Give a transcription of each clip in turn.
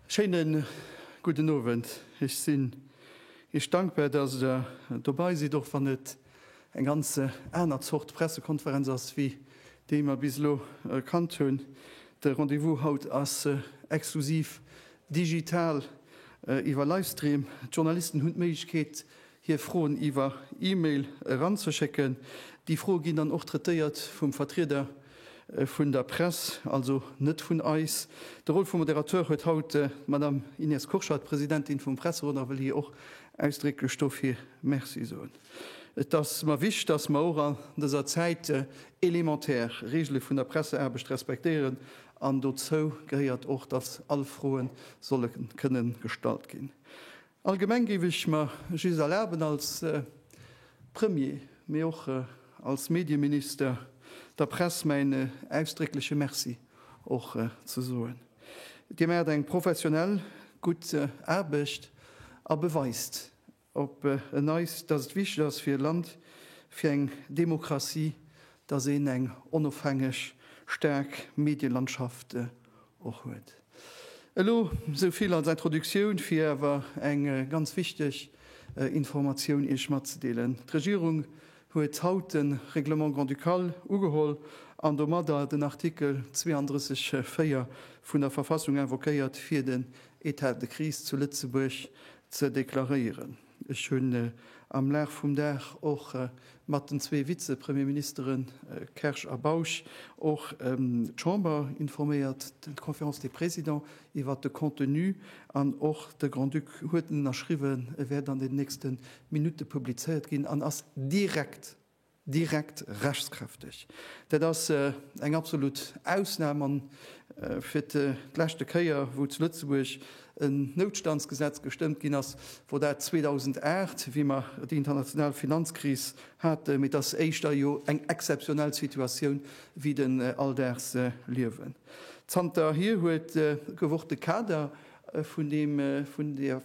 Schéinen gudden Owend. Ech sinn Iech dankbar, dass Der dobei sidd, och wann et eng ganz aner Zort Pressekonferenz ass wéi déi mer bis elo kannt hunn. De Rendez-vous haut ass exklusiv digital iwwer Livestream. D'Journalisten hunn d'Méiglechkeet hir Froen iwwer E-Mail eranzeschécken. Déi Froe ginn dann och traitéiert vum Vertrieder vun der Press, also net vun eis. De Rôle vum Moderateur huet haut d'Madame Inès Kurschat, Presidentin vum Presserot, a wëll hir och ausdrécklech dofir Merci soen. Et ass mer wicht, dass mer och an dëser Zäit elementär Regele vun der Presseaarbecht respektéieren, an dozou gehéiert och, dass all Froe solle kënnen gestallt ginn. Allgemeng géif ech mer just erlaben, als Premier, mee och als Medieminister, der Press mäin ausdréckleche Merci och ze soen. Dir maacht eng professionell, gutt Aarbecht a beweist op en Neits, dass et wichteg ass fir e Land, fir eng Demokratie, dass een eng onofhängeg, staark Medielandschaft Och huet. Elo esou vill als Introductioun, fir awer eng ganz wichteg Informatioun Iech matzedeelen. D'Regierung huet haut de Règlement grand-ducal ugeholl an domadder den Artikel 32, 4 vun der Verfassung invoquéiert, fir den Etat de crise zu Lëtzebuerg ze deklaréieren. Ech hunn am Laf vum Dag och mat den zwee Vize-Premierministere Kersch a Bausch och d'Chamber informéiert, d'Conférence des Présidents, iwwert de Contenu an och de Grand-Duc huet en ënnerschriwwen. E wär dann den nächste Minutte publizéiert ginn an ass direkt direkt rechtskräfteg. Dat ass eng absolut Ausnam an fir d'leschte Kéier wou zu Lëtzebuerg en Noutstandsgesetz gestëmmt ginn ass, wor dat 2008, wéi mer déi international Finanzkris haten. Mee et ass éischter jo eng exzeptionell Situatioun wéi den alldaags Liewen. Zanterhier huet gewort de Kader vun deem, vun der.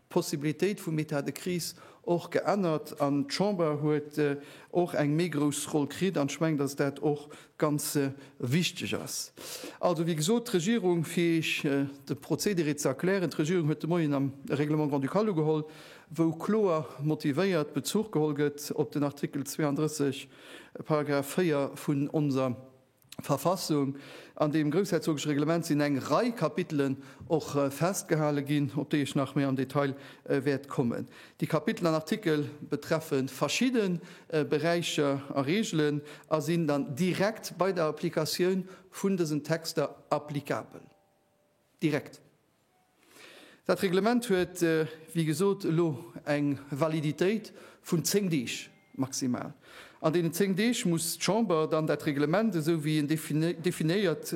Possibilitéit vum État de crise och geännert an d'Chamber huet och eng méi grouss Roll kritt. An ech mengen, dass dat och ganz wichteg ass. Also, wéi gesot, d'Regierung, fir Iech de Procédéré ze erklären, d'Regierung huet de Moien am Règlement grand-ducal ugeholl, wou kloer motivéiert Bezuch geholl gëtt op den Artikel 32, Paragraph 4 vun onser Verfassung an dem groussherzogeschen Reglement sinn eng Rei Kapitelen och festgehale ginn, op déi ech nach méi am Detail wäert kommen. Déi Kapitel an Artikel betreffe verschidde Beräicher a Reegelen a sinn dann direkt bei der Applikatioun vun dësen Texter applikabel. Direkt. Dat Reglement huet, wéi gesot, elo eng Validitéit vun zéng Deeg maximal. An deenen zéng Deeg muss d'Chamber dann dat Reglement, esou wéi en definéiert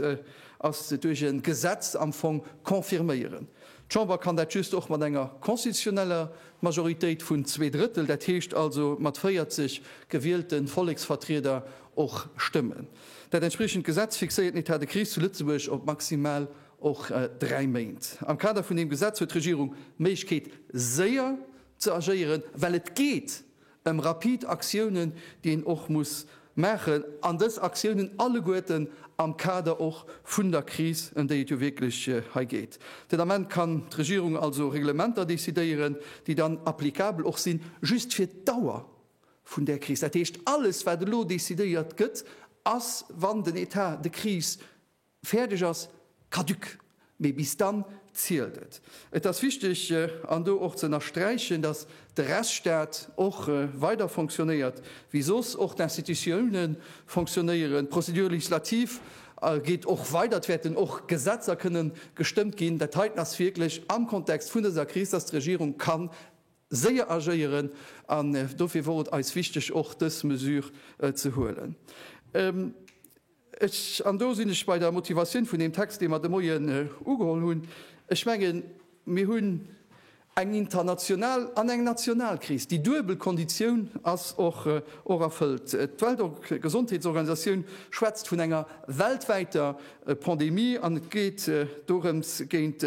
ass duerch e Gesetz, am Fong confirméieren. D'Chamber kann dat just och mat enger constitutioneller Majoritéit vun zwee Drëttel, dat heescht also mat 40 gewielten Volleksvertrieder, och stëmmen. Dat entspriechend Gesetz fixéiert den Etat de crise zu Lëtzebuerg op maximal och dräi Méint. Am Kader vun deem Gesetz huet d'Regierung d'Méiglechkeet, séier ze agéieren, well et geet ëm rapid Aktiounen, déi een och muss maachen, an dës Aktiounen alleguerten am Kader och vun der Kris, ëm déi et jo wierklech hei geet. Den Ament kann d'Regierung also Reglementer decidéieren, déi dann applicabel och sinn, just fir d'Dauer vun där Kris. Dat heescht, alles wat elo decidéiert gëtt, ass, wann den Etat de crise fäerdeg ass, caduc. Mee bis dann zielt et. Et ass wichteg an do och ze ënnersträichen, datt de Rechtsstaat och weider fonctionnéiert wéi soss, och d'Institutioune fonctionnéieren, d'Procédure législative geet och weider, et wäerten och Gesetzer kënnen gestëmmt ginn. Dat heiten ass wierklech am Kontext vun dëser Kris, datt d'Regierung kann séier agéieren an dofir wor et eis wichteg och dës Mesure ze huelen. Ech, an do sinn ech bei der Motivatioun vun deem Text, dee mer de Moien ugeholl hunn, ech mengen, mir hunn eng international an eng national Kris. Déi duebel Konditioun ass och erfëllt. D'Weltgesondheetsorganisatioun schwätzt vun enger weltwäiter Pandemie an et geet dorëms, géint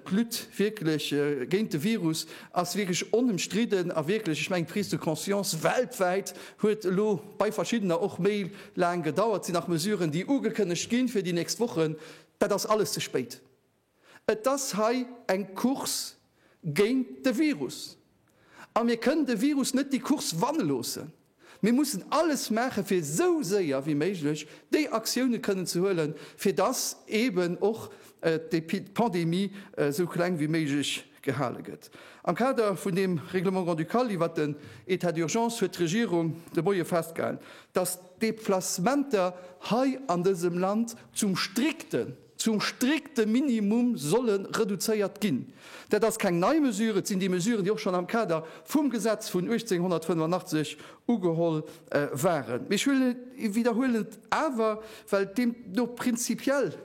D'Lutte wierklech géint de Virus ass wierklech onëmstridden a wierklech, ech mengen, d'Prise de conscience weltwäit huet elo bei verschiddener och méi laang gedauert. Et sinn nach Mesuren, déi ugekënnegt ginn fir déi nächst Wochen. Dat ass alles ze spéit. Et ass hei eng Course géint de Virus. A mir kënnen de Virus net déi Course wanne loossen. Mir mussen alles maache fir esou séier wéi méiglech déi Aktioune kënnen ze huele fir datt eeben och d'Pandemie esou kleng wéi méiglech gehale gëtt. Am Kader vun deem Règlement grand-ducal iwwert den État d'urgence huet d'Regierung de Moie festgehalen, datt d'Deplacementer hei an dësem Land zum strikten, Zum strikte Minimum solle reduzéiert ginn. Dat ass keng nei Mesure. Et sinn déi Mesuren, déi och schonn am Kader vum Gesetz vun 1885 ugeholl waren. Mee ech widderhuelen et awer, well et deemno prinzipiell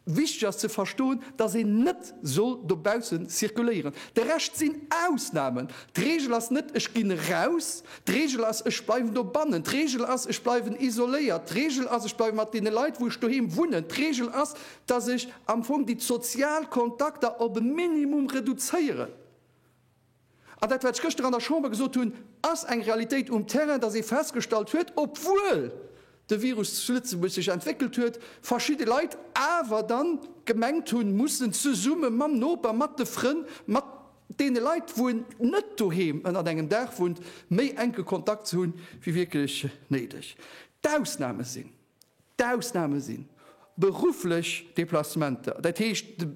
wichteg ass ze verstoen, dass een net soll dobaussen zirkuléieren. De Rescht sinn Ausnamen. D'Regel ass net, Ech ginn eraus, D'Regel ass, ech bleiwen dobannen. D'Regel ass, ech bleiwen isoléiert. D'Regel ass, ech bleiwe mat deene Leit, wou ech doheem wunnen. D'Regel ass, dass ech am Fong déi sozial Kontakter op e Minimum reduzéieren. An dat, wat ech gëschter an der Chamber gesot hunn, ass eng Realitéit um Terrain, dass ee festgestallt huet, obwuel de Virus zu Lëtzebuerg sech entwéckelt huet, verschidde Leit awer dann gemengt hunn, mussen zesumme mam Noper, mat de Frënn, mat deene Leit, wou een net doheem ënnert engem Daach wunnt, méi enke Kontakt ze hunn, wéi wierklech néideg. D'Ausname sinn, d'Ausname si berufflech Deplacementer, dat heescht de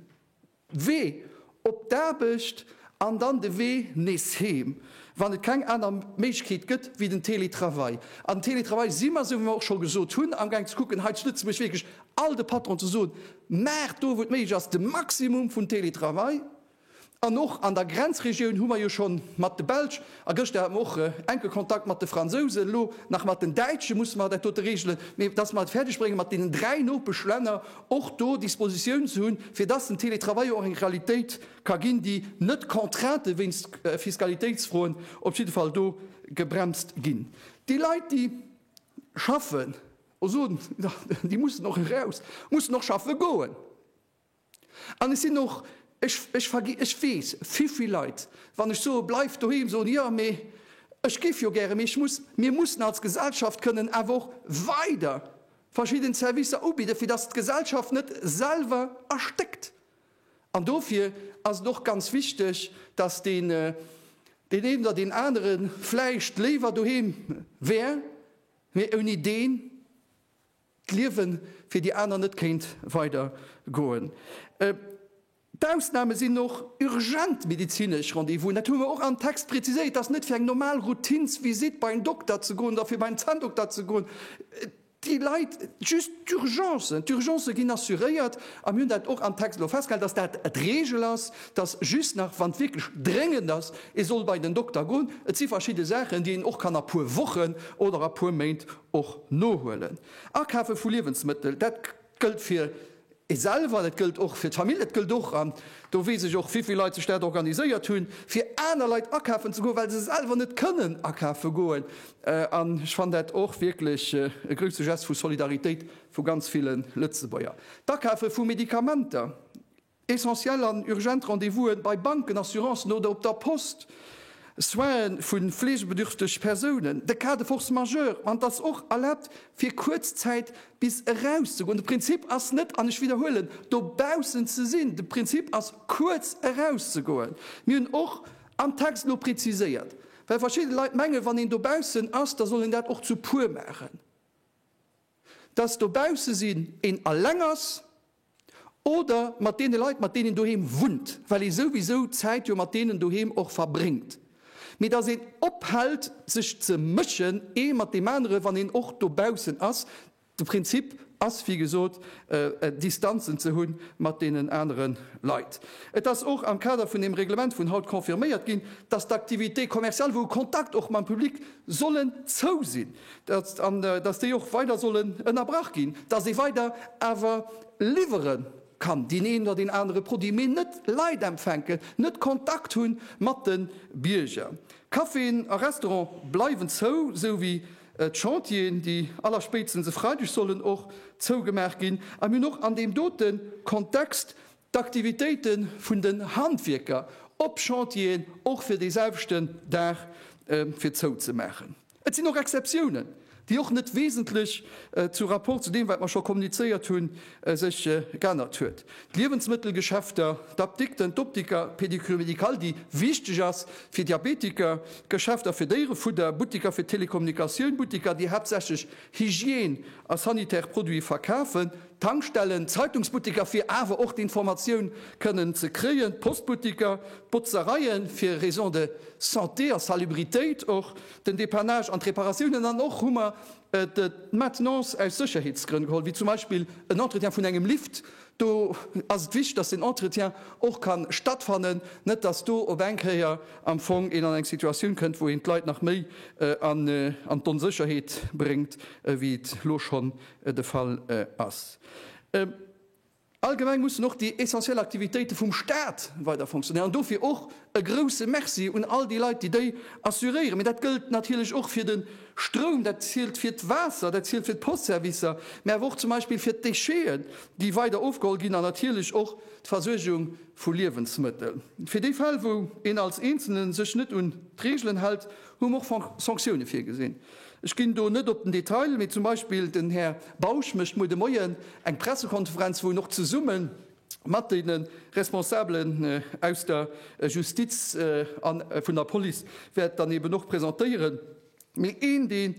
Wee op d'Aarbecht an dann de Wee nees heem, wann et keng aner Méiglechkeet gëtt wéi den Télétravail. An den Télétravail si mer, esou wéi mer och scho gesot hunn, amgaang ze kucken hei zu Lëtzebuerg wierklech all de Patronen ze soen, maacht do, wou et méiglech ass, de Maximum vun Télétravail, An och an der Grenzregioun hu mer jo schonn mat de Belsch, a gëschter hat mer och enke Kontakt mat de Fransousen, elo nach mat den Däitsche musse mer dat dote regelen, mee datt mer et fäerdeg brénge mat deenen dräi Nopeschlänner och do Dispositioun ze hunn, fir datt den Télétravail och eng Realitéit ka ginn, déi net Contraintë wéinst Fiskalitéitsfroen op jidde Fall do gebremst ginn. Déi Leit, déi schaffen, ech soen, déi mussen och eraus, mussen och schaffe goen. An et sinn och, ech, ech vergi, ech weess, vivill Leit, wann ech soe bleift doheem, soen, jo, mee ech géif jo gären, mee ech muss. Mir mussen als Gesellschaft kënnen awer och weider verschidden Servicer ubidden, fir dass d'Gesellschaft net selwer erstéckt. An dofir ass et och ganz wichteg, dass deen, deen een oder deen anere vläicht léiwer doheem wär, mee ouni deen d'Liewe fir déi aner net kéint weider goen. D'Ausname sinn och urgent medezinesch Rendez-vousen, dat hu mer och am Text preziséiert, dass net fir eng normal Routinsvisitt bei en Dokter ze goen oder fir bei en Zanndokter ze goen, déi Leit just d'Urgencen, d'Urgencë ginn assuréiert a mir hunn dat och am Text elo festgehalen, dass dat d'Regel ass, dass just nach, wann et wierklech dréngend ass, ee soll bei den Dokter goen. Et si verschidde Saachen, déi een och kann a puer Wochen oder a puer Méint Och nohuelen. Akafe vu Liewensmëttel, dat gëllt fir ee selwer, dat gëllt och fir d'Famill, dat gëllt och, an do weess ech och, wéivill Leit sech dat organiséiert hunn, fir aner Leit akafen ze goen, well se selwer net kënnen akafe goen. An ech fannen dat och wierklech e grouse Gest vu Solidaritéit vu ganz ville Lëtzebuerger. D'Akafe vu Medikamenter, Essentiell an urgent Rendez-vous'en bei Banken, Assurancen oder op der Post, Soinen vu fleegebedürfteg Persounen, de Cas de force majeure, an et ass och erlaabt fir kuerz Zäit bis eraus ze goen. De Prinzip ass net, an ech widderhuelen, dobaussen ze sinn, de Prinzip ass kuerz eraus ze goen. Mir hunn och am Text elo preziséiert, well verschidde Leit mengen, wann een dobaussen ass, da soll een dat och zu puer maachen. dass dobausse sinn, een alleng ass oder mat deene Leit, mat deenen een doheem wunnt, well ee souwisou d'Zäit jo mat deenen doheem och verbréngt, mee dass een ophält, sech ze mëschen, ee mat deem anere, wann een och dobaussen ass. De Prinzip ass, wéi gesot, Distanzen ze hu mat deenen anere Leit. Et ass och am Kader vun deem Reglement vun haut confirméiert ginn, dass d'Activités commerciales, wou e Kontakt och mam Public, sollen zou sinn. an dass déi och weider sollen ënnerbrach ginn, dass ee weider awer liwwere kann, deen een oder deen anere Produit, mee net Leit empfänken, net Kontakt hu mat de Bierger. Caféen a Restaurante bleiwen zou, sou wéi d'Chantieren, déi allerspéitstens e Freideg sollen och zougemaach ginn. A mir hunn och an deem dote Kontext d'Aktivitéite vun den Handwierker op Chantieren och fir deeselwechten Dag fir zou ze maachen. Et sinn och Exceptiounen, déi och net wesentlech zu rapport zu deem, wat mer scho kommunizéiert hunn, sech geännert huet. D'Liewensmëttelgeschäfter, d'Apdikten, d'Optiker, d'Pédicure médicale, déi wichteg ass fir Diabetiker, d'Geschäfter fir Déierefudder, Buttiker fir Telekommunikatioun, Buttiker, déi haaptsächlech Hygiène a sanitär Produite verkafen, D'Tankstellen, d'Zeitungsbutteker fir awer och d'Informatioun kënnen ze kréien, d'Postbutteker, d'Botzereien fir Raison de Santé a Salubritéit, och den Depannage an d'Reparatiounen an och hu mer d'Maintenance aus Sécherheetsgrënn geholl, wéi zum Beispill en Entretien vun engem Lift. Do ass et wichteg, dass den Entretien och ka stattfannen, net dass do op eng Kéier am Fong een an eng Situatioun kënnt, wou een d'Leit nach méi an d'Onsécherheet bréngt, wéi et elo schonn de Fall ass. Allgemeng mussen och déi essentiell Aktivitéite vum Staat weider fonctionnéieren. Dofir och e grouse Merci un all déi Leit, déi déi assuréieren. Mee dat gëllt natierlech och fir de Stroum, dat zielt fir d'Waasser, dat zielt fir d'Postservicer, mee awer och zum Beispill fir d'Décheten, déi weider ofgeholl ginn, an natierlech och d'Versuergung vu Liewensmëttel. Fir déi Fäll, wou een als Eenzelne sech net un d'Reegelen hält, Hu mer och Sanktioune virgesinn. Ech ginn do net op den Detail, mee zum Beispill den Här Bausch mécht muer de Moien eng Pressekonferenz, wou en och zesumme mat de Responsabelen aus der Justiz a vun der Police wäert dann eeben och presentéieren. Mee een, dee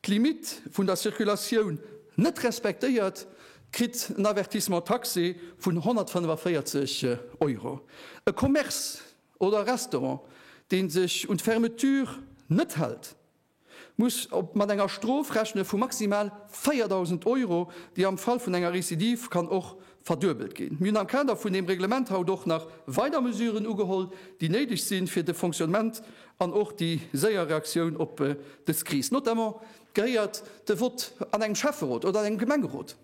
d'Limite vun der Circulatioun net respektéiert, kritt en Avertissement taxé vun 145 Euro. E Commerce oder e Restaurant, dee sech un d'Fermeture net hält, muss mat enger Strof rechne vu maximal 4.000 Euro, déi am Fall vun enger Recidive kann och verduebelt ginn. Mir hunn am Kader vun deem Reglement haut och nach weider Mesuren ugeholl, déi néideg sinn, fir de Fonctionnement an och déi séier Reaktioun op dës Kris. Notamment gehéiert de Vott an engem Schäfferot oder an engem Gemengerot.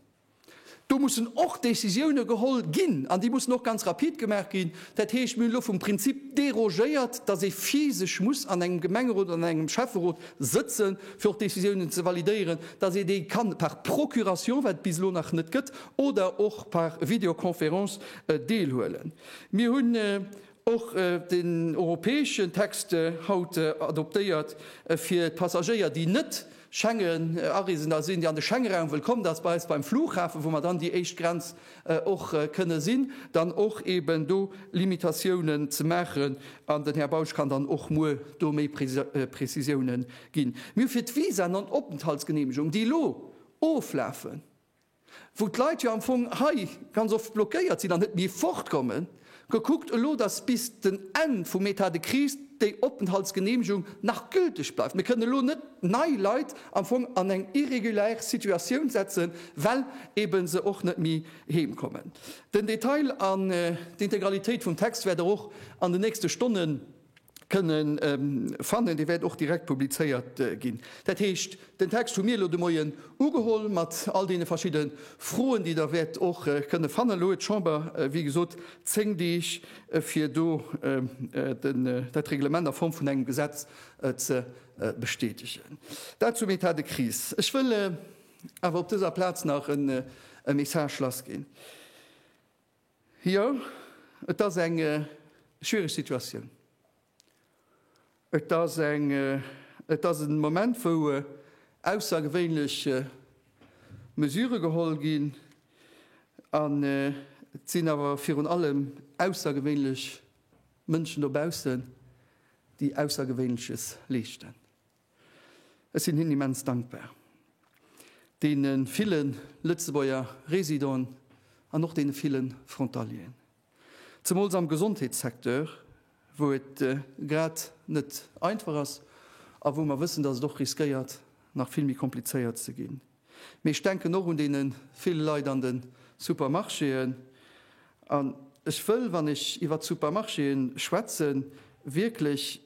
Do mussen och Décisioune geholl ginn an déi mussen och ganz rapid gemaach ginn. Dat heescht, mir hunn elo vum Prinzip dérogéiert, dass ee physesch muss an engem Gemengerot oder an engem Schäfferot sëtzen, fir och Décisiounen ze validéieren, dass ee déi kann par procuration, wat et bis elo nach net gëtt, oder och par Videoconférence deelhuelen. Mir hunn och den europäeschen Text haut adoptéiert, fir d'Passagéier, déi net Schengen-Areesender sinn, déi an de Schengeraum wëll kommen, dass bei eis beim Flughafen, wou mer dann déi éischt Grenz och kënne sinn, dann och eeben do Limitatiounen ze maachen. An den Här Bausch kann dann och muer do méi Prezisiounen ginn. Mir hu fir d'Visaen an Openthaltsgeneemegung, déi elo oflafen, wou d'Leit jo am Fong hei ganz oft blockéiert sinn an net méi fortkommen, gekuckt elo, dass bis den Enn vum État de crise déi Openthaltsgeneemegung nach gülteg bleift. Mir kënnen elo net nei Leit am Fong an eng irregulaire Situatioun setzen, well eeben se och net méi heem kommen. Den Detail an d'Integralitéit vum Text wäert Der och an den nächste Stonnen, kënnen fannen. Dee wäert och direkt publizéiert ginn. Dat heescht, den Text hu mir elo de Moien ugeholl mat all deene verschidde Froen, déi Der wäert och kënne fannen. Elo huet d'Chamber, wéi gesot, zéng Deeg, fir do dat Reglement a Form vun engem Gesetz ze bestätegen. Dat zum État de crise. Ech wëll awer op dëser Plaz nach e Message lassginn. Jo, et ass eng schwiereg Situatioun. Et ass eng, et ass e Moment, wou aussergewéinlech Mesure geholl ginn, an et sinn awer virun allem aussergewéinlech Mënschen dobaussen, déi Aussergewéinleches leeschten. Ech sinn hinnen immens dankbar, deene ville Lëtzebuerger Residenten an och deene ville Frontalieren, zemools am Gesondheetssecteur, wou et grad net einfach ass a wou mer wëssen, dass et och riskéiert, nach vill méi komplizéiert ze ginn. Mee ech denken och un déi vill Leit an de Supermarchéen. An ech wëll, wann ech iwwert d'Supermarchéen schwätzen, wierklech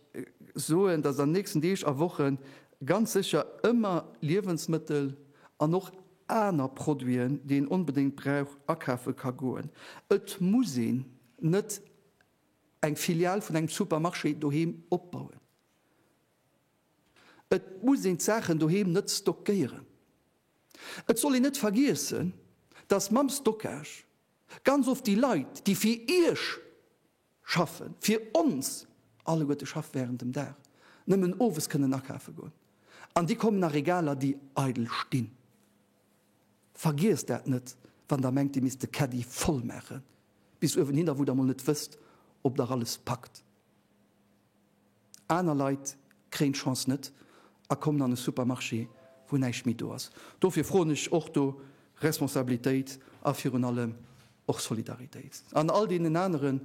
soen, dass an den nächsten Deeg a Wochen ganz sécher ëmmer Liewensmëttel an och aner Produiten, déi een onbedéngt brauch, akafe ka goen. Et muss een net eng Filial vun engem Supermarché doheem opbauen. Et muss een d'Saachen doheem net stockéieren. Et soll een net vergiessen, dass mam Stockage ganz oft déi Leit, déi fir Iech schaffen, fir ons alleguerte schaffen während dem Dag, nëmmen owes kënnen akafe goen. An déi kommen a Regaler, déi eidel stinn. Vergiesst dat net, wann Der mengt, Dir misst de Caddie voll maachen bis uewen hinner, wou Der emol net wësst, ob Der alles packt. Aner Leit kréien d'Chance net a kommen an e Supermarché, wou näischt méi do ass. Dofir froen ech och do Responsabilitéit a virun allem och Solidaritéit. An all deenen aneren,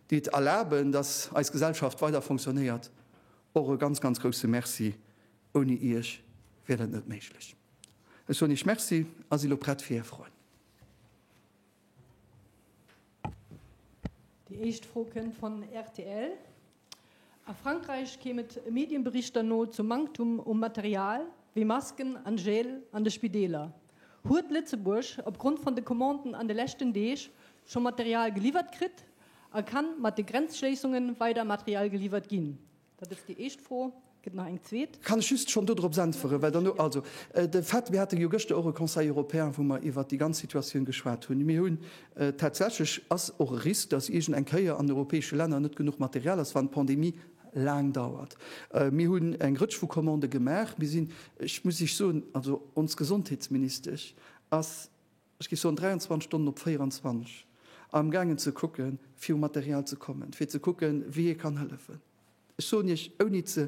déi et erlaben, dass eis Gesellschaft weider fonctionnéiert, och e ganz, ganz grousse Merci. Ouni iech wier dat net méiglech. Ech soen iech Merci a si lo prett fir är Froen. Déi éischt Fro kënnt von rtl. A Frankräich kéim et Medienberichter no zum Manktum u Material wéi Masken an Gel an de Spideeler. Huet Lëtzebuerg op Grond von de Commanden an de leschten Deeg scho Material geliwwert kritt a kann mat de Grenzschléissungen weider Material geliwwert ginn? Dat ass déi éischt Fro. Gëtt nach eng zweet? Kann ech just schonn dodrops äntweren, well derno, also de fait, mir hate jo gëschter och e Conseil européen, wou mer iwwert déi ganz Situatioun geschwat hunn. Mir hunn tatsächlech, ass och e Risk, dass iergend eng Kéier an den europäesche Länner net genuch Material ass, wann d'Pandemie laang dauert. Mir hunn eng Rëtsch vu Commandë gemaach. Mir sinn, ech muss Iech soen, also ons Gesondheetsministesch ass, ech géif soen 23 Stonnen op 24, am gaangen ze kucke fir u Material ze kommen, fir ze kucke wéi ee kann hëllefen. Ech soen Iech, ouni e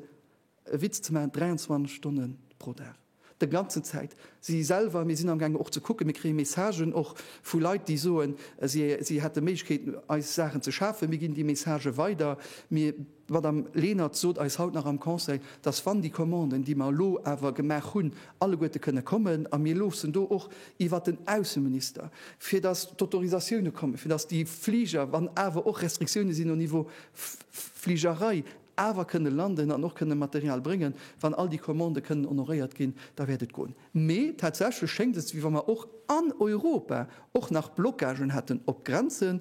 Witz ze maachen, 23 Stonne pro Dag, de ganzen Zäit. Si selwer, mir sinn am gaangen och ze kucken, mir kréie Messagen och vu Leit, déi soen, si hätte Méiglechkeeten, eis Saachen ze schafen. Mir ginn déi Messagë weider. Mir. D'Madame Lenert sot eis haut nach am Conseil, dass wann déi Commanden, déi mer elo awer gemaach hunn, alleguerte kënne kommen, a mir loossen do och iwwert den Ausseminister, fir dass d'Autorisatioune kommen, fir dass déi Fliger, wann awer och Restriktioune sinn au Niveau Fligerei, awer kënne landen an och kënne Material bréngen, wann all déi Commandë kënnen honoréiert ginn, da wäert et goen. Mee tatsächlech schéngt et, wéi wa mer och an Europa och nach Blocagen hätten op d'Grenzen.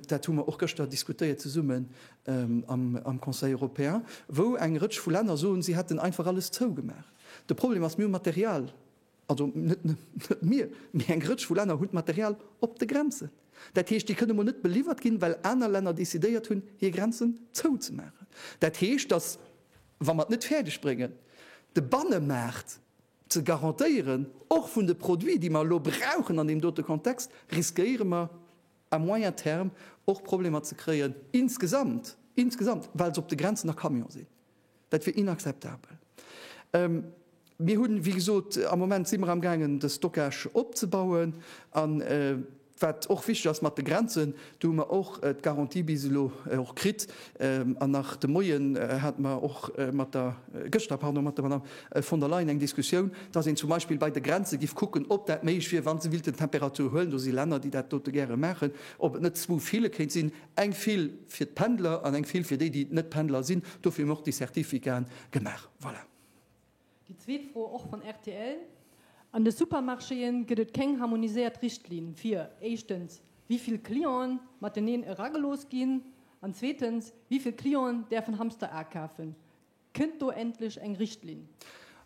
Dat hu mer och gëschter diskutéiert zesumme am Conseil européen, wou eng Rëtsch vu Länner soen, si hätten einfach alles zougemaach. De Problem ass, mir hu Material, also net mir, mee eng Rëtsch vu Länner hunn d'Material op de Grenzen. Dat heescht, déi kënne mol net beliwwert ginn, well aner Länner decidéiert hunn, hir Grenzen zouzemaachen. Dat heescht, datt, wa mer et net fäerdeg bréngen, de Bannemaart ze garantéieren, och vun de Produiten, déi mer elo brauchen an deem dote Kontext, riskéiere mer, à moyen terme och Problemer ze kréien insgesamt, insgesamt, well se op de Grenzen nach Camion sinn. Dat wier inakzeptabel. Mir hunn, wéi gesot, am Moment si mer amgaangen, de Stockage opzebauen. A wat och wichteg ass mat de Grenzen, do hu mer och d'Garantie bis elo och kritt, An nach de Moien hate mer och mat der, gëschter, pardon, mat der Madame von der Leyen eng Diskussioun, dass een zum Beispill bei de Grenze giff kucken, ob dat méiglech wier, wa se willten d'Temperatur huelen, do si Länner, déi dat dote gäre maachen, ob et net zwou File kéint sinn, eng Fil fir d'Pendler an eng Fil fir déi, déi net Pendler sinn. Dofir hu mer och déi Certificaten gemaach. Voilà. Déi zweet Fro, och vun rtl, An de Supermarchéë gëtt et keng harmoniséiert Richtlinn fir, éischtens, wéi vill Clienten mateneen eragelooss ginn, an zweetens, wéi vill Clienten däerfen Hamster akafen. Kënnt do endlech eng Richtlinn?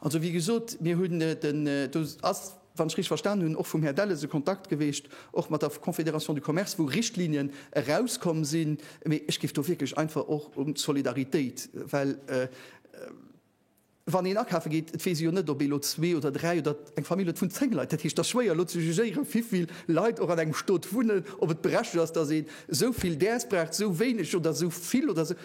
Also, wéi gesot, mir hunn den, do ass, wann ech richteg verstanen hunn, och vum Här Delles e Kontakt geweecht, och mat der Confédération du Commerce, wou Richtlinien erauskomm sinn. Mee ech géif do wierklech einfach och un d'Solidaritéit, well, Wann een akafe geet, et weess ee jo net, ob ee lo zwee oder dräi oder eng Famill huet vun zéng Leit. Dat heescht, et ass schwéier elo ze jugéieren, wivill Leit och an engem Stot wunnen, ob et berechtegt ass, dass een esou vill däers braucht, esou wéineg oder esou vill oder esou.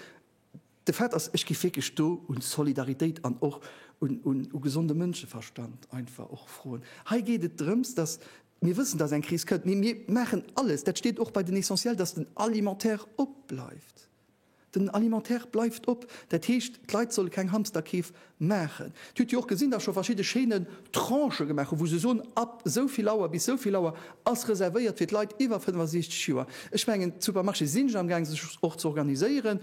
De Fait ass, ech géif wierklech do u Solidaritéit an och u gesonde Mënscheverstand einfach och froen. Hei geet et drëms, dass mir wëssen, dass eng Kris kënnt, mee mir maachen alles, dat steet och bei den Essentiels, dass den Alimentaire opbleift. Den Alimentaire bleift op, dat heescht d'Leit solle keng Hamsterkeef maachen. Dir hutt jo och gesinn, datt scho verschidde Chaînen Tranchë gemaach hunn, wou se soen, ab esou vill Auer bis esou vill Auer ass reservéiert fir d'Leit iwwer 65 Joer. Ech mengen d'Supermarchésë sinn am Gaang sech och ze organiséieren.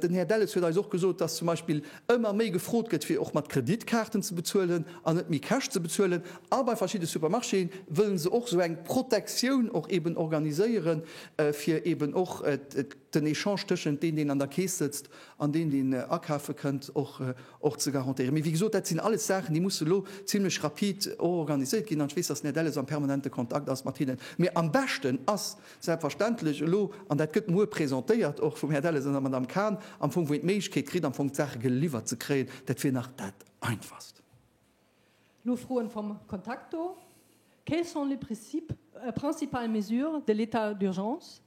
Den Här Delles huet eis och gesot, datt zum Beispill ëmmer méi gefrot gëtt fir och mat Kreditkaarten ze bezuelen an net méi cash ze bezuelen. A bei verschidde Supermarchéë wëllen se och esou eng Protektioun och eeben organiséieren, fir eeben och den Echange tëschent deen, deen an der Keess sëtzt, an deen, deen akafe kënnt, och ze garantéieren. Mee wéi gesot, dat sinn alles Saachen, déi musse elo zimlech rapid och organiséiert ginn. An ech weess, datt den Här Delles am permanente Kontakt ass mat hinnen. Mee am beschten ass selbstverständlech elo, an dat gëtt muer presentéiert och vum Här Delles an der Madame Kahn, am Fong, wou een d'Méiglechkeet kritt am Fong d'Saache geliwwert ze kréien, dat wier nach dat Einfachst. Elo Froen vom Kontakt do, Quelles sont les principales mesures de l'état d'urgence?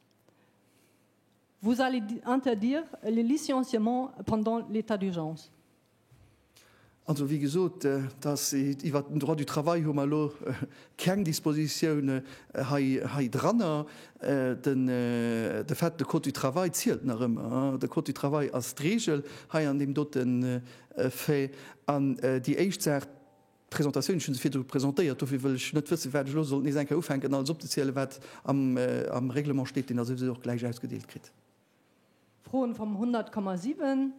Vous allez interdire les licenciements pendant l'état d'urgence? Also, wéi gesot, dass iwwert den Droit du travail hu mer elo keng Dispositioune hei hei dranner. Den de fait, de Code du travail zielt nach ëmmer. De Code du travail ass d'Regel hei an deem dote Fait. An déi éischt Saach, D'Presentatioun, ech hu se virdru presentéiert, dofir wëll ech net wëssen, wat ech elo sollt nees eng Kéier ufänken alles opzezielen, wat am Règlement steet, deen Der souwisou och gläich ausgedeelt kritt. Froen vum 100,7.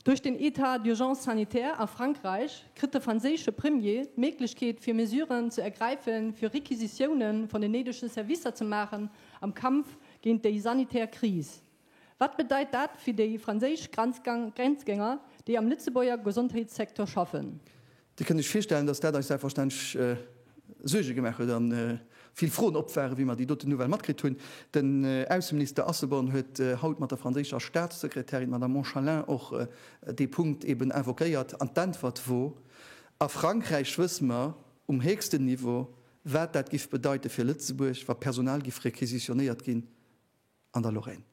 Duerch den État d'urgence sanitaire a Frankräich kritt de franséische Premier d'Méiglechkeet fir Mesuren ze ergräife fir Requisitiounen vun den néidege Servicer ze maachen am Kampf géint déi sanitär Kris. Wat bedeit dat fir déi franséisch Grenzgänger, déi am Lëtzebuerger Gesondheetssecteur schaffen? Dir kënnt Iech virstellen, datt dat eis selbstverständlech Suerge gemaach huet a vill Froen op waren, wéi mer déi doten Nouvelle matkritt hunn. Den Ausseminister Asselborn huet haut mat der franséischer Staatssekretärin, d'Madame Monchalin, och dee Punkt eben invoquéiert an d'Äntwert wor, A Frankräich wësse mer um héchsten Niveau, wat dat giff bedeite fir Lëtzebuerg, wa Personal giff requisitionéiert ginn. an der Lorraine.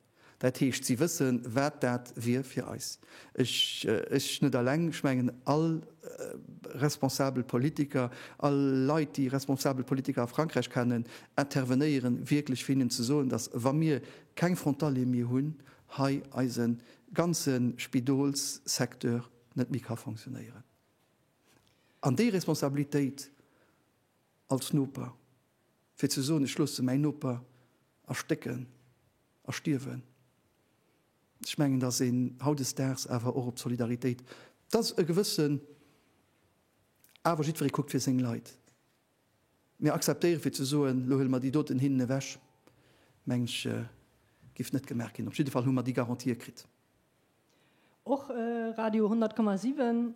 Dat heescht, si wësse wat dat wier fir eis. Ech net alleng, ech mengen all responsabel Politiker, all Leit déi responsabel Politiker a Frankräich kennen, intervenéieren wierklech fir hinnen ze soen, datt wa mir keng Frontalier méi hunn, hei eise ganze Spidolssecteur net méi ka fonctionnéieren. An déi Responsabilitéit als Noper. fir ze soen, ech loosse mäin Noper erstécken a stierwen. Ech mengen, dass een hautdesdaags awer och op d'Solidaritéit, dass e gewëssen, awer jiddweree kuckt fir seng Leit, mä akzeptéieren, fir ze soen, elo huele mer déi doten hinnen ewech, meng ech, giff net gemaach ginn. Op jidde Fall hu mer déi Garantië kritt. Och Radio 100,7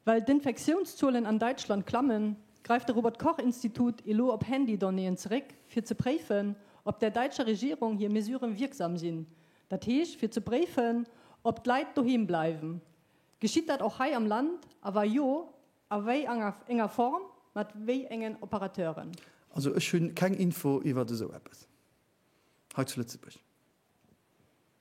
Well d'Infektiounszuelen an Däitschland klammen, gräift de Robert Koch Institut elo op Handydonnéeën zeréck, fir ze préifen, ob der däitscher Regierung hir Mesuren wierksam sinn. Dat heescht, fir ze préifen, ob d'Leit doheem bleiwen. Geschitt dat och hei am Land, a wa jo, a wéi enger Form, mat wéi engen Operateuren? Also ech hu keng Info iwwert esou eppes hei zu Lëtzebuerg.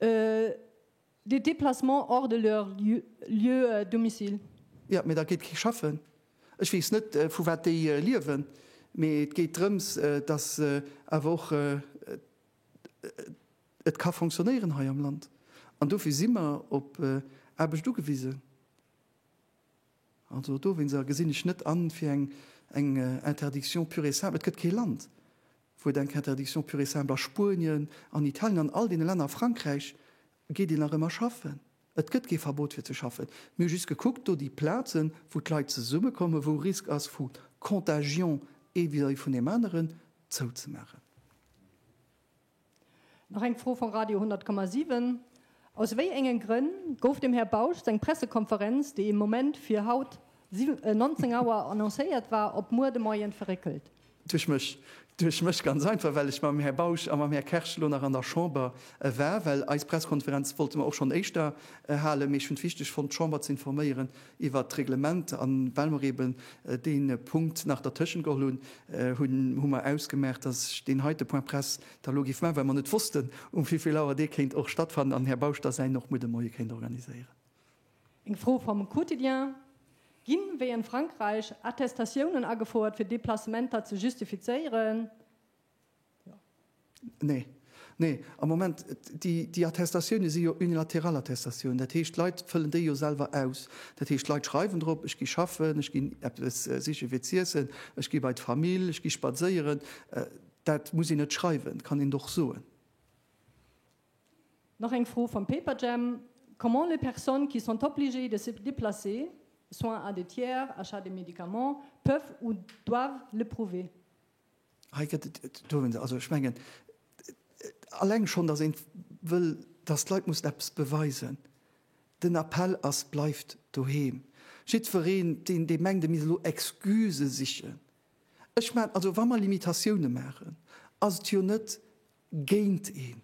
Des déplacements hors de leur lieu de domicile. Jo, mee da geet kee schaffen. Ech weess net, vu wat déi liewen, mee et geet drëms, dass awer och et ka fonctionnéieren hei am Land. An dofir si mer op Aarbecht ugewisen. Also dowéinst gesinn ech net an, fir eng Interdiction pure et simple. Et gëtt kee Land, wou et eng Interdiction pure et simple a Spuenien, an Italien, an all deene Länner, a Frankräich geet een nach ëmmer schaffen. Et gëtt kee Verbot fir ze schaffen. Mir hu just gekuckt, do déi Plazen, wou d'Leit zesummekommen, wou Risk ass vu Contagion ee vis-à-vis vun deem aneren, zouzemaachen. Nach eng Fro vu Radio 100,7. Aus wéi éngen Grënn gouf dem Här Bausch seng Pressekonferenz, déi im Moment fir haut 19 Auer annoncéiert war, op muer de Moien verréckelt? Duerch mech. Duerch mech, ganz einfach, well ech mam Här Bausch a mam Här Kersch elo nach an der Chamber war. Well eis Pressekonferenz wollte mer och schonn éischter halen, mee ech hunn et wichteg fonnt, d'Chamber ze informéieren iwwert d'Reglement. An well mer eben dee Punkt nach dertëschent geholl hunn, hu mer ausgemaach, dass ech deen heite Point presse da lo giff man, well mer net wossten um vivill Auer dee kéint och stattfannen an Här Bausch da säin och mol de Moie kéint organiséieren. Eng Fro vom Quotidien, Ginn, wéi en Frankreich, Attestatiounen agefouert fir Deplacementer ze justifizéieren? Jo. Nee. Nee, am Moment, déi Attestatiounen si jo unilateral Attestatiounen, dat heescht d'Leit fëllen déi jo selwer aus. Dat heescht d'Leit schreiwen drop, ech gi schaffen, ech ginn eppes sichen fir z'iessen, ech gi bei d'Famill, ech gi spadséieren. Dat muss een net schreiwen, kann een doch soen. Nach eng Fro vum Paperjam, Comment les personnes qui sont obligées de se déplacer, soins à des tiers, achat des médicaments, peuvent ou doivent le prouver? Hei gëtt et, et do hunn se, also ech mengen alleng schonn, datt een wëll, datt d'Leit mussen eppes beweisen. Den Appell ass, Bleift doheem! Jiddwereen, deen, dee mengt, e misst elo Excusë sichen, Ech man, also wa mer Limitatioune maachen, ass et jo net géint een,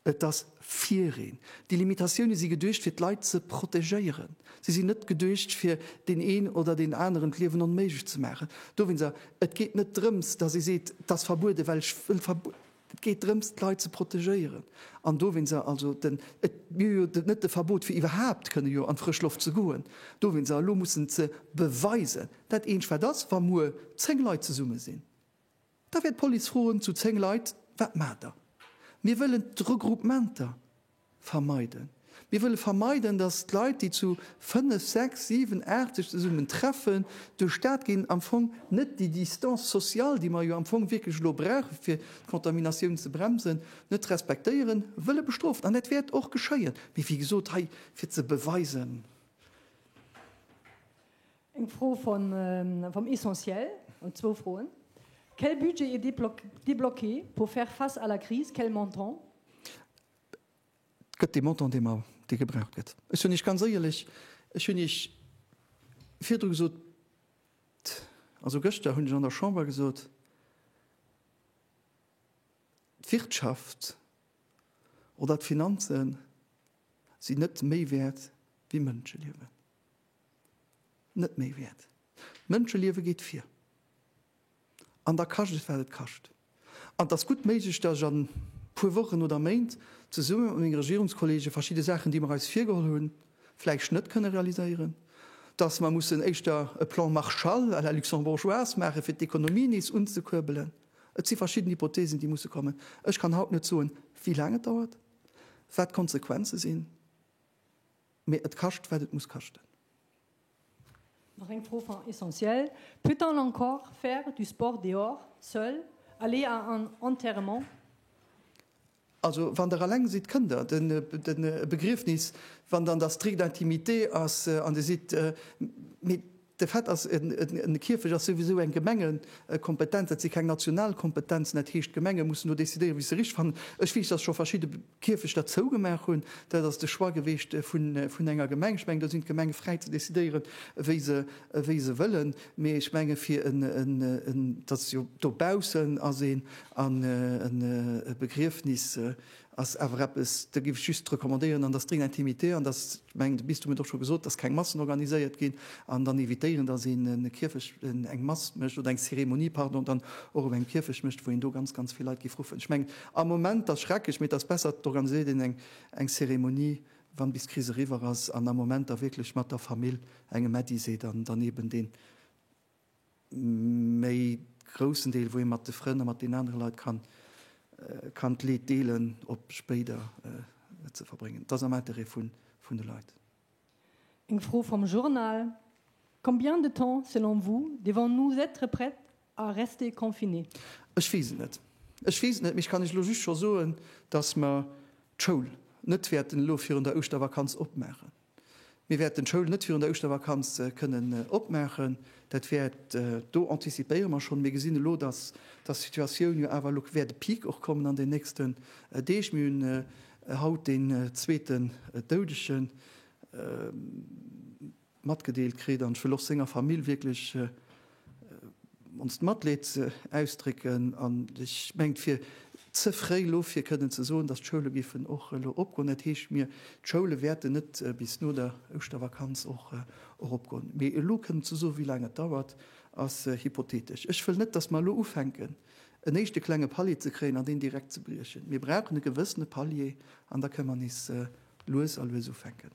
et ass fir een. Déi Limitatioune si geduecht fir d'Leit ze protegéieren. Si sinn net geduecht fir deen een oder deen aneren d'Liewen onméiglech ze maachen. Dowéinst, et geet net drëms, datt ee seet, 't ass verbueden, well ech wëll verbueden. Et geet drëms, d'Leit ze protegéieren an dowéinst a, also den, et wier jo net de Verbot fir iwwerhaupt kënne jo an d'frësch Loft ze goen, dowéinst a elo mussen ze beweisen. Dat Eenzegt wat ass, wa muer zéng Leit zesumme sinn, da wäert d'Police froen zu zéng Leit, wat maacht der? Mir wëllen d'Regroupementer. Vermeiden. Mir wëlle vermeiden, datt d'Leit, déi zu fënnef, sechs, siwen, aacht sech zesummen treffen, duerch d'Stad ginn, am Fong net déi Distance sociale, déi mer jo am Fong wierklech elo brauchen, fir d'Contaminatioun ze bremsen, net respektéieren, wëlle bestrofen. An dat wäert och geschéien. Mee wéi gesot, hei fir ze beweisen. Eng Fro vum Essentiel, oder zwou Froen. Quel budget est débloqué pour faire face à la crise? Quel montant? Et gëtt dee Montant, dee mer, dee gebraucht gëtt. Ech hunn Iech ganz éierlech, ech hunn Iech virdru gesot, also gëschter hunn ech an der Chamber gesot, d'Wirtschaft oder d'Finanze sinn net méi wäert wéi Mënscheliewen. Net méi wäert. D'Mënscheliewe geet vir. An da kascht et wat et kascht. An et ass gutt méiglech, datt ech a puer Wochen oder Méint zesumme mat menge Regierungskollege verschidde Saachen, déi mer eis virgeholl hunn, vläicht net kënne realiséieren, datt mer mussen éischter e Plan Marshall à la luxembourgeoise maache fir d'Ekonomie nees unzekuerbelen. Et si verschidden Hypothesen, déi musse kommen. Ech kann haut net soen, wéi laang et dauert, wat d'Konsequenze sinn. Mee et kascht wat et muss kaschten. Nach eng Fro vun Essentiel, Peut-on encore faire du sport dehors, seul, aller à un enterrement? Also wann Der alleng sidd, kënnt Der. Den Begriefnis, wann dann der stricte intimité ass an Dir sidd, mee. De fait ass, de Kierfecht ass souwisou eng Gemengekompetenz, dat si keng national Kompetenzen, dat heescht, d'Gemenge mussen do decidéieren, wéi se richtig fannen. Ech weess, dass scho verschidde Kierfechter zougemaach hunn. Dat ass de Choix gewiescht vun enger Gemeng. Ech mengen, do sinn d'Gemenge fräi ze decidéieren, wéi se wëllen. Mee ech menge fir en, dat ass jo dobaussen, ass een an e Begriefnis, ass awer eppes, do géif ech just recommandéieren, an dass drin intimité, an dass, ech mengen de Bistum huet och scho gesot, dass keng Massen organiséiert ginn, an dann évitéieren, dass een e Kierfecht, een eng Mass mécht oder eng Cérémonie, pardon, dann och op engem Kierfecht mécht, wou een do ganz, ganz vill Leit géif ruffen. Ech mengen am Moment, dass schrecklech, mee et ass besser et organiséiert een eng eng Cérémonie, wann bis d'Kris eriwwer ass, an am Moment da wierklech mat der Famill engem Äddi seet, an dann eben deen, Mee groussen Deel wou ee mat de Frënn a mat den anere Leit kann kann d'Leed deelen op spéider et ze verbréngen. Et ass am Interêt vun vun de Leit. Eng Fro vom Journal, Combien de temps selon vous devons-nous être prêt à rester confinés? Ech weess et net. Ech weess et net, mee ech kann Iech elo just scho soen, dass mer d'Schoul net wäerten elo virun der Ouschtervakanz opmaachen. Mir wäerten d'Schoul net virun der Ouschtervakanz kënnen opmaachen. Dat wäert, do anticipéiere mer schonn, mir gesinn elo, dass d'Situatioun jo awer, elo wäert e Peak och kommen an den nächsten Deeg. Mir hunn haut deen zweeten Doudege matgedeelt kritt an ech wëll och senger Famill wierklech Onst Matleed ze ausdrécken an ech mengen, et wier ze fréi elo fir kënnen ze soen, datt d'Schoule géifen och elo opgoen. Dat heescht, mir, d'Schoule wäerten net bis no der Ouschtervakanz och eropgoen. Mee elo kënnen ze soen, wéi laang et dauert, ass hypothetesch. Ech wëll net, datt mer elo ufänken, en éischte klenge Palier ze kréien an deen direkt ze briechen. Mir brauchen e gewëssene Palier an da kënnen mer nees lues a lues ufänken.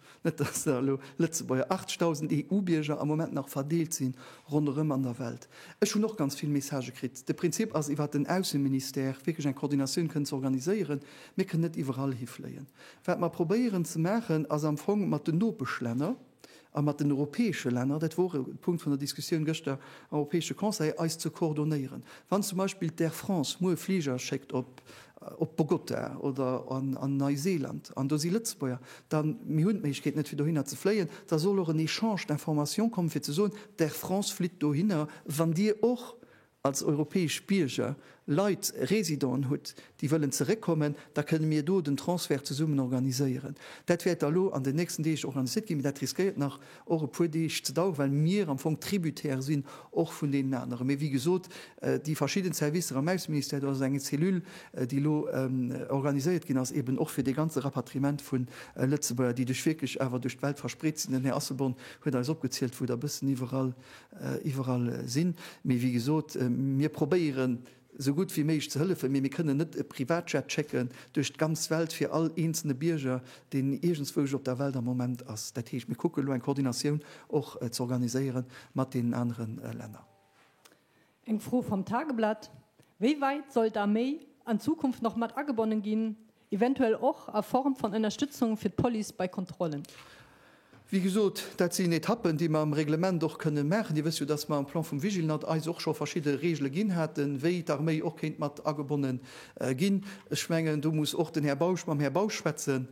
Net dass der elo Lëtzebuerger, 8.000 EU-Bierger am Moment nach verdeelt si ronderëm an der Welt. Ech hunn och ganz vill Messagë kritt. De Prinzip ass, iwwert den Ausseministère wierklech eng Koordinatioun kënnen ze organiséieren. Mir kënnen net iwwerall hifléien. Wat mer probéieren ze maachen, ass am Fong mat den Nopeschlänner a mat den europäesche Länner, dat wor e Punkt vun der Diskussioun gëschter am Europäesche Conseil, eis ze koordonéieren. Wann zum Beispill d'Air France muer Fliger schéckt op op Bogota oder an Neiseeland, an do si Lëtzebuerger, da mir hunn d'Méiglechkeet net fir dohinner ze fléien, da soll och en Echange d'informations kommen, fir ze soen, d'Air France flitt dohinner, wann Dir och als europäesch Bierger Leit, Residenten hutt, déi wëllen zeréckkommen, da kënne mir do den Transfert zesummen organiséieren. Dat wäert da elo an den nächsten Deeg organiséiert ginn, mee dat riskéiert nach, och e puer Deeg ze daueren, well mir am Fong tributaire sinn och vun deenen aneren. Mee wéi gesot, déi verschidden Servicer am Ausseministère, do ass et eng Cellule, déi elo organiséiert ginn ass, eben och fir dee ganze Rapatriement vun Lëtzebuerger, déi duerch wierklech awer duerch d'Welt verspreet sinn. Den Här Asselborn huet eis opgezielt, wou der e bëssen iwwerall, iwwerall sinn. Mee wéi gesot, mir probéieren, sou gutt wéi méiglech ze hëllefen, mee mir kënnen net e Privatjet schécken duerch d'ganz Welt fir all eenzelne Bierger, deen iergendswousch op der Welt am Moment ass. Dat heescht, mir kucken elo eng Koordinatioun och ze organiséiere mat deenen anere Länner. Eng Fro vum Tageblatt, Wéi wäit soll d'Arméi an Zukunft nach mat agebonnen ginn, Eventuell och a Form van Ënnerstützung fir d'Police bei Kontrollen. Wéi gesot, dat sinn Etappen, déi mer am Reglement och kënnen maachen. Dir wësst jo, dass mer am Plan vum Vigilnat eis och scho verschidde Regele ginn haten, wéi d'Arméi och kéint mat agebonne ginn. Ech mengen, do muss och den Här Bausch mam Här Bausch schwätzen,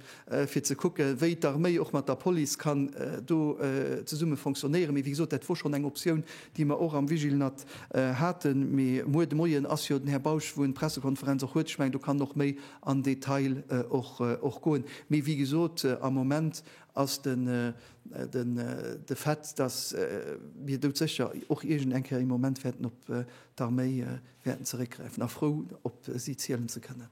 fir ze kucken, wéi d'Arméi och mat der Police kann do zesumme fonctionnéieren. Mee wéi gesot, dat wor schonn eng Optioun, déi mer och am Vigilenat haten, mee muer de Moien ass jo den Här Bausch, wou en d'Pressekonferenz och huet, ech mengen do kann en och méi an Detail och goen. Mee wéi gesot, am Moment ass de Fait, datt mir doudsécher och iergend eng Kéier ee Moment wäerten op d'Arméi wäerten zeréckgräifen a frou op si zielen ze kënnen.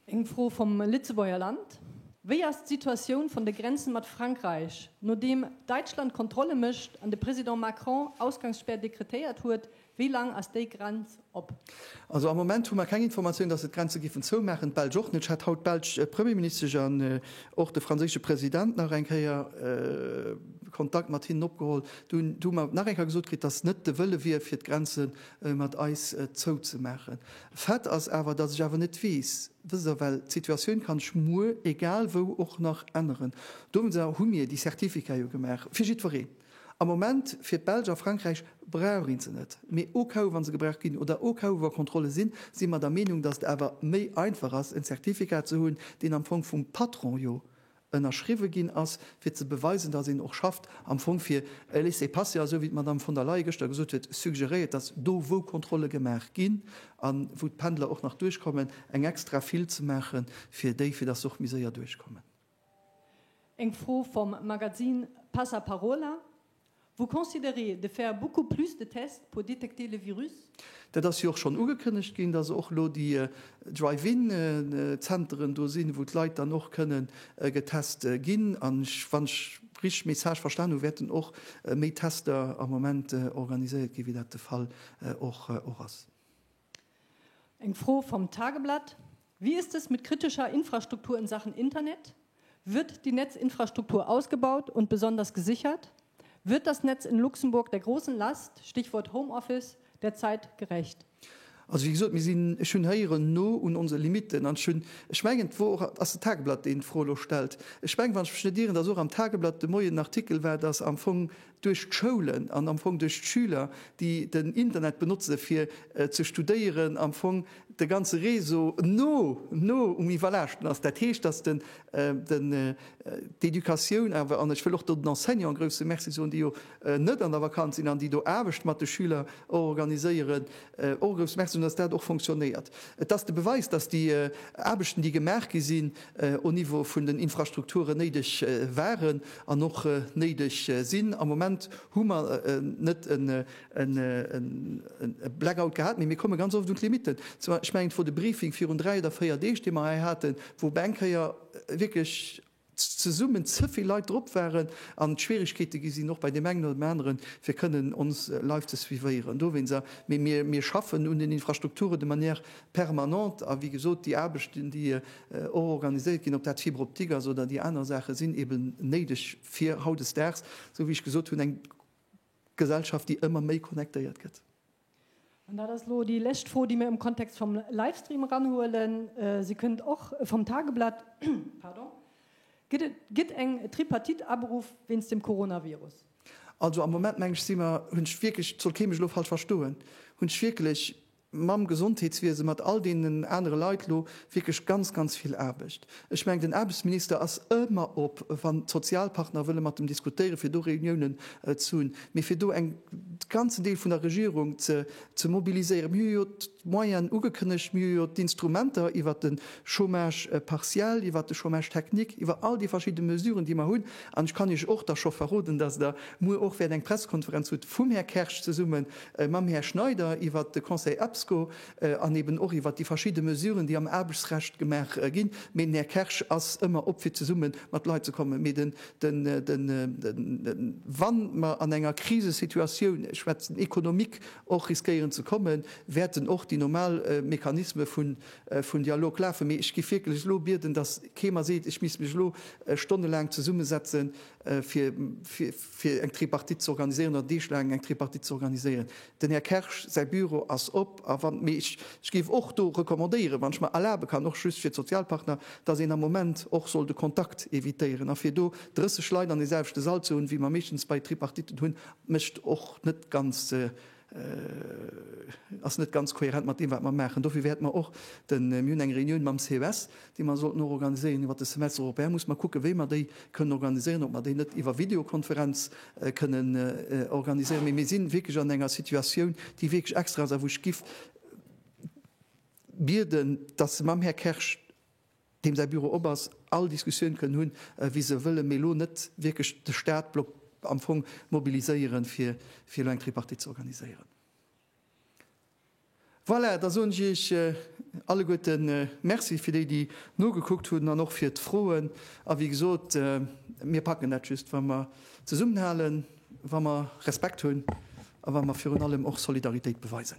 Eng Fro vum Lëtzebuerger Land, Wéi ass d'Situatioun vun de Grenzen mat Frankräich, nodeem Däitschland Kontrolle mécht an de President Macron Ausgangsspär dekretéiert huet, wéi laang ass déi Grenz op? Also am Moment hu mer keng Informatioun, datt se d'Grenze giffen zoumaachen, d'Belsch och net. Ech hat haut d'belsch Premierministesch an och de franséische President nach eng Kéier Kontakt mat hinnen opgeholl. Do hu mer nach eng Kéier gesot kritt, datt net de Wëlle wier, fir d'Grenze mat eis zouzemaachen. Fait ass awer, datt ech awer net weess, wësst Der, well d'Situatioun ka sech muer egal wou och nach änneren. Dowéinster hu mir déi Certificate jo gemaach fir jiddwereen. Am Moment fir d'Belsch a Frankräich brauch ee se net, mee au cas où, wa se gebraucht ginn oder au cas où, wa Kontrolle sinn, si mer der Meenung, datt et awer méi einfach ass, en Certificat ze hunn, deen am Fong vum Patron jo ënnerschriwwe ginn ass, fir ze beweisen, datt een och schafft, am Fong fir e Laissez-passer, esou wéi d'Madame von der Leyen gëschter gesot huet, suggeréiert, datt do, wou Kontrolle gemaach ginn a wou d'Pendler och nach duerchkommen, eng extra Fil ze maache fir déi, fir datt se och méi séier duerchkommen. Eng Fro vum Magazine Passaparola. Vous considérez de faire beaucoup plus de tests pour détecter le virus? Dat ass jo och schonn ugekënnegt ginn, dass och elo déi Drive-in Zenteren do sinn, wou d'Leit dann och kënnen getest ginn. An ech, wann ech richteg Message verstan hu, wäerten och méi Tester am Moment organiséiert ginn, wéi dat de Fall och ass. Eng Fro vom Tageblatt, Wie ist es mit kritischer Infrastruktur in Sachen Internet? Wird die Netzinfrastruktur ausgebaut und besonders gesichert? Wird das Netz in Luxemburg der großen Last, Stichwort Homeoffice, der Zeit gerecht? Also wéi gesot, mir sinn, ech hunn héieren, no un onse Limitten. An ech hunn, ech mengen, et wor och, ass de Tageblatt, deen d'Fro elo stellt? Ech mengen, wann ech mech net ieren, datt och am Tageblatt de Moien en Artikel war, datt am Fong duerch d'Schoulen an am Fong duerch d'Schüler, déi den Internet benotze fir ze studéieren, am Fong de ganze Réseau no no um Iwwerlaaschten ass. Dat heescht, datt den den d'Educatioun awer, an ech wëll och do den Enseignanten e grouse Merci soen, déi jo net an der Vakanz sinn an déi do Aarbecht mat de Schüler och organiséieren, och e grouse Merci soen, datt dat och fonctionnéiert. Et ass de Beweis, datt déi Aarbechten, déi gemaach gi sinn, au niveau vun den Infrastrukturen néideg waren an och néideg sinn. Am Moment hu mer net e Blackout gehat, mee mir komme ganz oft un d'Limitten. Ech mengen, et wor de Briefing virun dräi oder véier Deeg, dee mer hei haten, wou op eng Kéier wierklech zesummen ze vill Leit drop waren an et Schwierigkeete gi sinn, och bei deem engen oder deem aneren, fir kënnen ons live ze suivéieren dowéinst. Mee mir schaffen un den Infrastrukturen de manière permanent a wéi gesot déi Aarbechten, déi och organiséiert ginn, ob dat d'Fibre optique ass oder déi aner Saache sinn eben néideg fir hautdesdaags, esou wéi ech gesot hunn, eng Gesellschaft, déi ëmmer méi connectéiert gëtt. An dat ass elo déi lescht Fro, déi mir am Kontext vum Livestream eranhuelen. Se kënnt och vum Tageblatt. Pardon. Gëtt et gëtt eng Tripartite aberuff wéinst dem Coronavirus? Also am Moment, meng ech, si mer, hunn ech wierklech, et soll kee mech elo falsch verstoen, hunn ech wierklech mam Gesondheetswiese, mat all deenen anere Leit elo wierklech ganz, ganz vill Aarbecht. Ech mengen, den Aarbechtsminister ass ëmmer op, wann d'Sozialpartner wëlle mat em diskutéieren, fir do Reuniounen ze hunn. Mee fir do eng, de ganzen Deel vun der Regierung ze mobiliséieren, mir hu jo d'Moyenen ugekënnegt, mir hu jo d'Instrumenter iwwert de Chômage partiel, iwwert de Chômage technique, iwwer all déi verschidde Mesuren, déi mer hunn. An ech kann Iech och da scho verroden, dass Der muer och wäert eng Pressekonferenz hutt vum Här Kersch zesumme mam Här Schneider iwwert de Conseil EPSCO an eben och iwwert déi verschidde Mesuren, déi am Aarbechtsrecht gemaach ginn. Mee den Här Kersch ass ëmmer op, fir zesumme mat Leit ze kommen. Mee de, de, de, wa mer an enger Krisesituatioun, ech schwätzen économique, och riskéieren ze kommen, wäerten och déi normal Mechanisme vu vun Dialog lafen. Mee ech géif wierklech elo bieden, dass kee mer seet, ech misst mech elo stonnelaang zesummesetzen, fir fir eng Tripartite ze organiséieren oder Deeg laang eng Tripartite ze organiséieren. Den Här Kersch säi Büro ass op a wann mee ech ech géif och do recommandéieren, wann ech mer erlabe kann, och just fir d'Sozialpartner, datt een am Moment och soll de Kontakt evitéieren a fir do 30 Leit an deeselwechte Sall ze hunn, wéi mer meeschtens bei Tripartiten hunn, mécht och net ganz ass net ganz kohärent mat deem, wat mer maachen. Dofir wäerte mer och de, mir hunn eng Reunioun mam CES, déi mer sollten och organiséieren iwwert de Semestre européen, muss mer kucken, wéi mer déi kënnen organiséieren, ob mer déi net iwwer Videokonferenz kënnen organiséieren. Mee mir si wierklech an enger Situatioun, déi wierklech extra ass a wou ech géif bieden, dass se mam Här Kersch, deem säi Büro op ass, all Diskussioun kënnen hunn, wéi se wëllen, mee elo net wierklech de Stat blockt, am Fong mobiliséieren, fir elo eng Tripartite ze organiséieren. Voilà, da soen ech Iech alleguerte Merci fir déi, déi nogekuckt hunn an och fir d'Froen. A wéi gesot, mir packen dat just, wa mer zesummenhalen, wa mer Respekt hunn a wa mer virun allem och Solidaritéit beweisen.